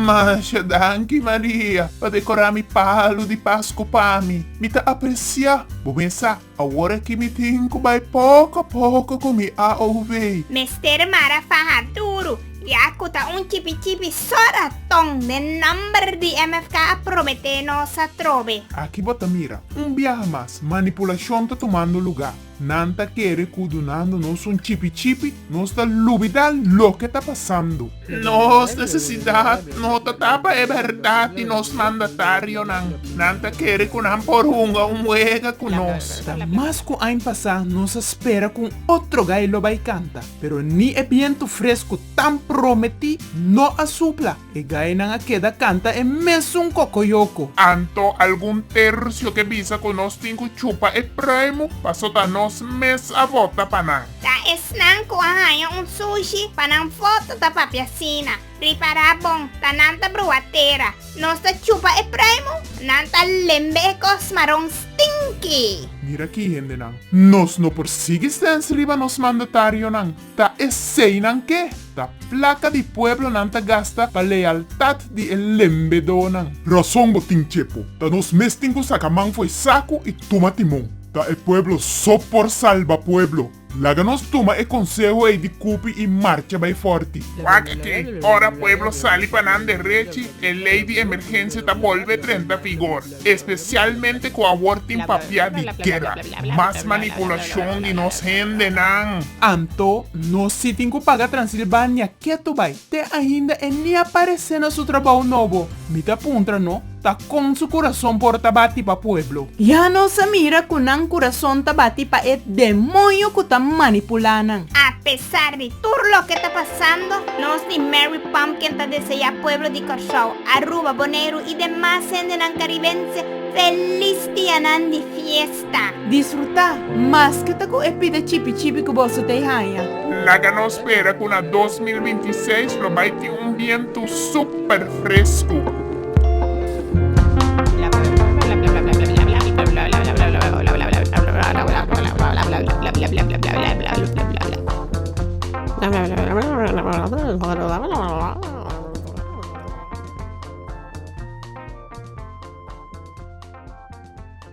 Masha danki Maria pa decorá mi palu di Pascu pa mi. Mi ta apreciá. Bo mesa, awor aki mi tin cu bai poco a poco cu mi AOV. Mester mara faha duru. Yacu ta un chipi chipi so raton den nomber di MFK a promete nos atrobe. Aki bo ta mira, un biaha mas, manipulacion ta tumando luga. Nan ta kere cu dunando nos un chipi chipi, nos ta lubida loke ta pasando. Nos necesidad no ta ta pa e berdad di nos mandatarionan. Nan ta kere cu nan por hunga un wega cu nos. Ta mas cu ain pasa, nos a spera cu un otro gay lo bay canta. Pero ni e bientu fresku tan prometí no a supla, e gainan a keda kanta e mesun kokoyoko. Anto algun tercio ke bisa ku nos tin ku chupa e pruimu pasota nos mes a vota pa nan. Ta esnan ku a haña un sushi pa nan foto ta papia asina. Pripara bon, ta nan ta brua tera. Nos ta chupa e pruimo, nan ta lembe e kos maron stinky. Mira aki hendenan, nos no por sigui sens riba nos mandatarionan. Ta eseinan ke ta plaka di pueblo nan ta gasta pa lealtat di e lembedonan. Rason bo tin Chepo, ta nos mes tin ku saka man fo'i saku i tuma timon. Ta e pueblo so por salba pueblo. Laga nos tuma e konseho ei di kupi i marcha bai fòrti. Wak ke, ora pueblo sali pa nan derechi, e lei di emergensia ta bolbe drenta vigor, espesialmente ku awor tin papia di guera. Mas manipulashon di nos hendenan! Anto, nos sí tin ku paga Transilbania ketu bai. Te ainda e ni a paresé na su trabou nobo. Mi ta puntra no ta kon su kurason por ta bati pa pueblo. Ya nos a mira ku nan kurason ta bati pa e demonio ku ta manipulá nan. A pesar di tur loke ta pasando, nos di Mary Pumpkin ta deseá pueblo di Kòrsou, Aruba, Boneiru i demas hendenan karibense felis dianan di fies. ta. Disfrutá, maske ta ku e pida chipi chipi ku boso ta e haña. Laga nos spera ku na dos mil binti seis lo bai tin un bientu súper fresku.